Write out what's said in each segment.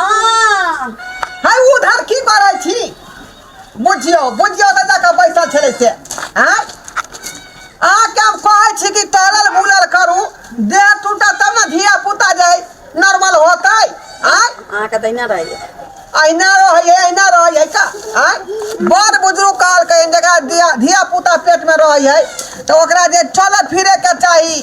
आन है उधर की करै छी बुझियो बुझियो तऽ जाकऽ बैसल छलै से आँय अहाँके हम कहै छी कि टहलल बुलल करू देह टूटत तब ने धिया पुता जे है नॉर्मल होतै आँय अहाँके दहिना रहैए अहिना रहै है अहिना रहै है का आँय बड़ बुजुर्ग कहलकै जकरा धिया धिया पुता पेटमे रहै है तऽ ओकरा जे चलऽ फिरैके चाही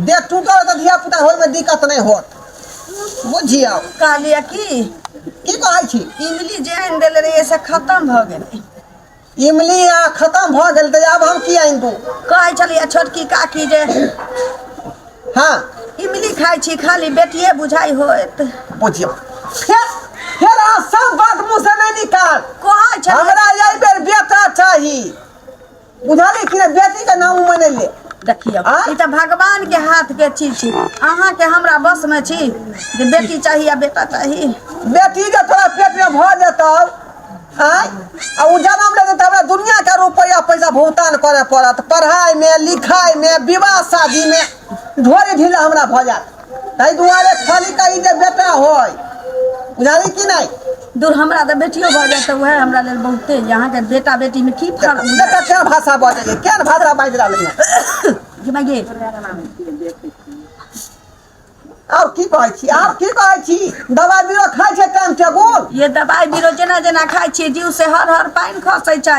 देह टूटल है तो धिया पुता होय में दिक्कत नहीं होत बुझियो कहलिए कि की कहै छी इमली जेहन देल रही से खत्म भ गेलै इमली आ खत्म भ गेल त आब हम की आइन दू कहै छलिए छोटकी काकी जे हां इमली खाइ छी खाली बेटिए बुझाइ होत बुझियो फेर फेर अहाँ सब बात मुँह से नहीं निकाल कहै छलिए हमरा यही बेर बेटा चाहिए बुझलियै कि नहि बेटीके नाम मनेलियै देखियौ आँ? ई तऽ भगवान के हाथ के चीज छी अहाँ के हमरा बस में छी जे बेटी चाही आ बेटा चाही बेटी जे तोरा पेटमे भऽ जेतौ आँय आ ओ जनम लेतै तऽ हमरा दुनियाके रुपैआ पैसा भुगतान करय पड़त पढ़ाइमे लिखाइमे विवाह शादीमे ढोरी ढीला हमरा भऽ जायत ताहि दुआरे खाली कही जे बेटा होय बुझाली कि नहि दूर हमरा तऽ बेटियो भऽ जाए तऽ वएह हमरा लेल बहुते यऽ अहाँके बेटा बेटीमे की फर्क छै? बेटा क्या भाषा बाजैए क्या भाषा बाजि रहलै है कि भाइ गे, आओर की कहै छी आओर की कहै छी दवाइ बीरो खाइ छै टाइम टेबुल ये दबाइ बीरो जेना जेना खाइ छियै जीव से हर हर पानि खसै छै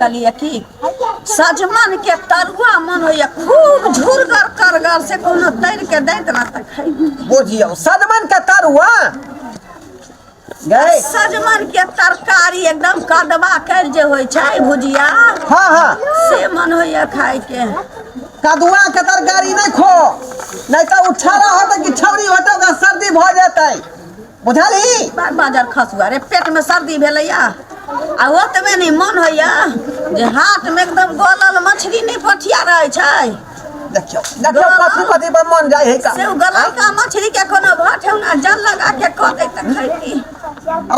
कहलियै की सजमैन के तरुआ मन होइया खूब झुरगर करगर से कोनो तैर के दैत ना तऽ खैबी बुझियौ सजमन के तरुआ गै सजमैन के तरकारी एकदम कदवा कैल जे होइ छै भुजिया हाँ हाँ से मन होइया खाय के कदुआ के तरकारी नहि खो नहि तऽ उठा होतै कि छौरी होतै ओकरा सर्दी भऽ जेतै बुझली बार बाजर खसुआ रे पेटमे सर्दी भेलैए आ ओतबे नहि मन होइए जे हाटमे एकदम गलल मछली नहि पठिया रहै छै देखियौ देखियौ कथी कथी पर मन जाइ है से ओ गललका मछलीके कोनो भर ठेहुना जल लगा के कऽ दै तऽ खैती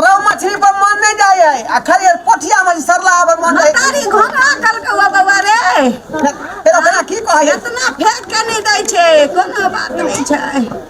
रौ मछली पर मन नहि जाइ है आ खाली पोठिया मछली सरला पर मन जाइ तारी घोंघा कलकौआ बौआ रे फेर ओकरा की कहै है इतना फेंक के नहि दै छै कोनो बात नहि छै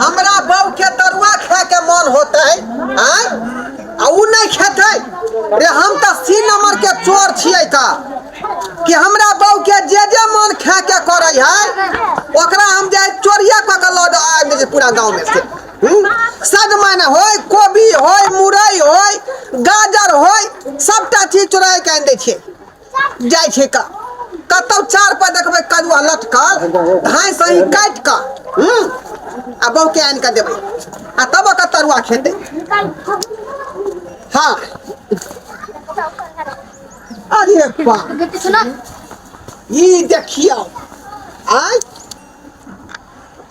हमरा बहू के तरुआ खाए के मन होते आय आ उ नहीं खेते रे हम तो सी नंबर के चोर छिए था कि हमरा बहू के जे जे मन खाए के करे है ओकरा हम जाए चोरिया क के लद आबि दे छी पूरा गांव में से हम्म? सद माने होय कोबी होय मुरई होय गाजर होय सबटा चीज चोराय के आनि दै छियै जाइ छै क कतहु चार पर देखबै कदुआ लटकल धाँइ सही काटि कऽ हूँ आ बहुके आनि कऽ देबै आ तब ओकर तरुआ खेतै हँ अरे बा ई देखियौ आय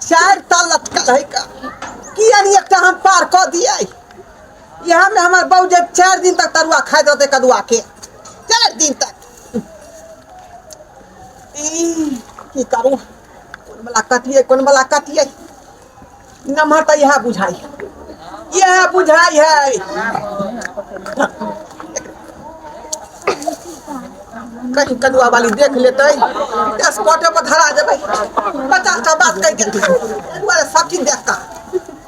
चारि ता लटकल है का किया नहीं एकटा हम पार कऽ दियै इहा में हमर बहू जे चार दिन तक तरुआ खाइत रहते कदुआ के चार दिन तक ई की करू कोन वाला कटिए कोन वाला कटिए नमहर तऽ इहा बुझाई इहा बुझाई है कहीं कदुआ वाली देख लेते दस कोटे पर धरा देबै पचास का बात कहि देते कदुआ सब चीज देखता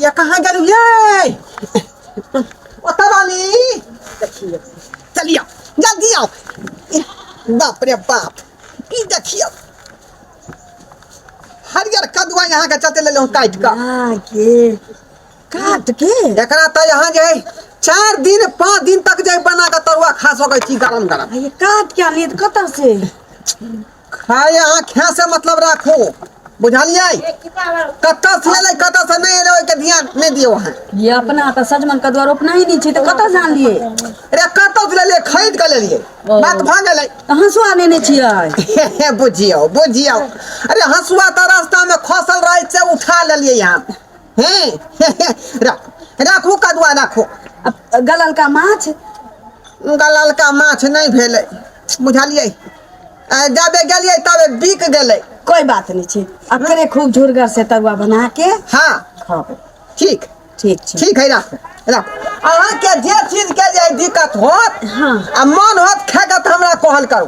या कहाँ गेलू ये ओतऽ रहली देखिए चलिया जल्दी आओ बाप रे बाप ई देखियो हरियर कदुआ यहाँ के चलते ले काट का हाँ, के काट के एकरा तो यहाँ जे चार दिन पाँच दिन तक जे बना के तरुआ खा सकै छी गरम गरम ये काट के आनी कत से खाय अहाँ खाय से मतलब राखू बुझलियै कतऽ से एलै कतऽ से नहि एलै ओहिके ध्यान नहि दियौ अहाँ ये अपना तऽ सजमन के द्वार अपना ही नहीं छी तऽ कतऽ जान लिए अरे कतऽ से लेलियै खरीद कऽ लेलियै बात भऽ गेलै तऽ हंसुआ लेने छियै बुझियौ बुझियौ अरे हंसुआ तऽ रास्तामे खसल रहै से उठा लेलियै हम हे राखू कदुआ राखू गललका माछ गललका माछ नहि भेलै बुझलियै आ, जाबे गेलियै तबे बिक गेलै कोई बात नहीं छी अपने खूब झुरगर से तरुआ बना के हाँ खाओ ठीक ठीक छी ठीक है राख राख अहाँ के जे चीज के जे दिक्कत होत हाँ। आ मन होत खाके तऽ हमरा कहल करू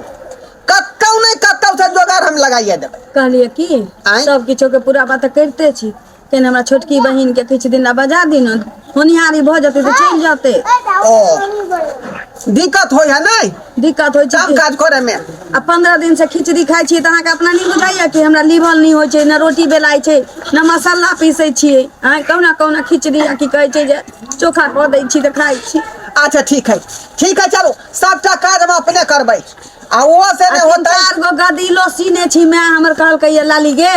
कतौ नहि कतौ से जोगाड़ हम लगाइए देबै कहलिए की आँय? सब किछो के पूरा बात तऽ करिते छी तेहन हमरा छोटकी बहिनके किछु दिन लए बजा दी ने होनिहारी भऽ जेतै तऽ चलि जेतै ओ दिक्कत होइ है नहि दिक्कत होइ छै काम कि- काज करे में आ पंद्रह दिन से खिचड़ी खाइ छियै तऽ अहाँके अपना नहि बुझाइया कि हमरा लीभल नहि होइ छै ने रोटी बेलाइ छै ने मसाला पीसै छियै अहाँ कहुना कहुना खिचड़ी आ की कहै छै जे चोखा कऽ दै छी तऽ खाइ छी अच्छा ठीक है ठीक है चलो सबटा काज हम अपने करबै आ ओहो से आ नहि तीन होतै चार गो गदीलो सीने छी माय हमर कहलकै ये लाली गे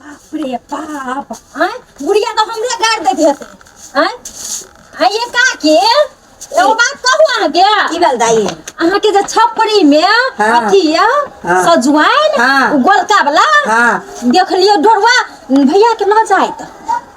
बाप रे बाप आँय बुढ़िया तऽ हमरे गारि दैत हेतै आँय आँय ये काकी एगो बात कहू अहाँके की भेल दाई अहाँके जे छपरी मे हाँ। अथी ये हाँ। सजुआइन हाँ। उ गोलका वाला हाँ। देखलियै ढोरवा भैया के लऽ जाइत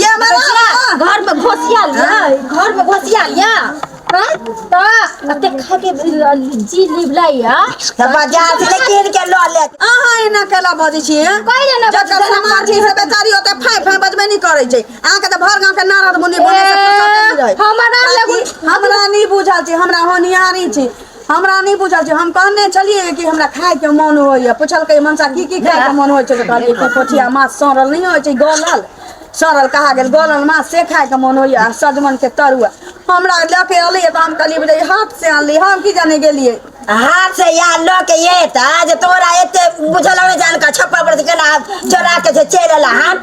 ये मतलब मामा पूरा घर में घोसिया लिया घर में घोसिया लिया हैं? त अते खा के जी लिबला या तऽ बाजार से कीन के लऽ ले अहाँ एना केला बजै छी हैं? कहिले ने जकर बजबै, एना समाज छै से बेचारी ओते फाइ फाइ बजबे नहि करै छै अहाँके तऽ भर गाँव के नारद मुनि बने के फुर्सत नहि रहै। हमरा लगुन हमरा नहि बुझल छै हमरा होनिहारी छै हमरा नहि बुझल छै हम कहने छलियै कि हमरा खाय के मोन होइया पुछलकै मनसा की की खाय के मोन होइ छै तऽ कहलियै की पोठिया माछ सड़ल नहि होइ छै गलल सड़ल कहा गेल गलल माछ से खाय के मोन होइया आ सजमन के तरुआ हमरा लऽ के एलै तऽ हम कहलियै बुझलियै हाथ से अनलियै हम की जाने गेलियै हाथ से या लऽ के एता जे तोरा एते बुझल नहि जान का छप्पर पर से केना चोरा के जे चलि एला हन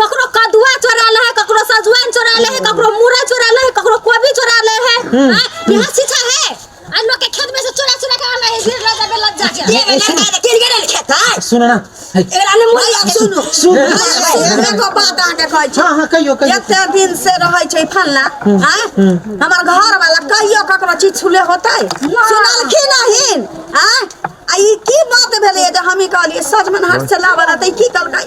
ककरो कदुआ चोरा ले है ककरो सजुआन चोरा ले है ककरो मूरा चोरा ले है ककरो कोबी चोरा ले है हाँ, यह शिक्षा है आ लोग के खेत में से चोरा चोरा के आना है गिर लग जाबे लग जा के ये सुन किन गेल खेत है सुन ना है। एकरा ने मोल के सुनु सुन। एकरा को बात आके कहै छै हाँ हाँ कहियो कहियो एते दिन से रहै छै फल्ला हां हमर घर वाला कहियो ककरो चीज छुले होतै सुनलखी नहीं हां आ ई की बात भेलै जे हम ई कहलिए सजमन हाथ से लावल हतै की कहलकै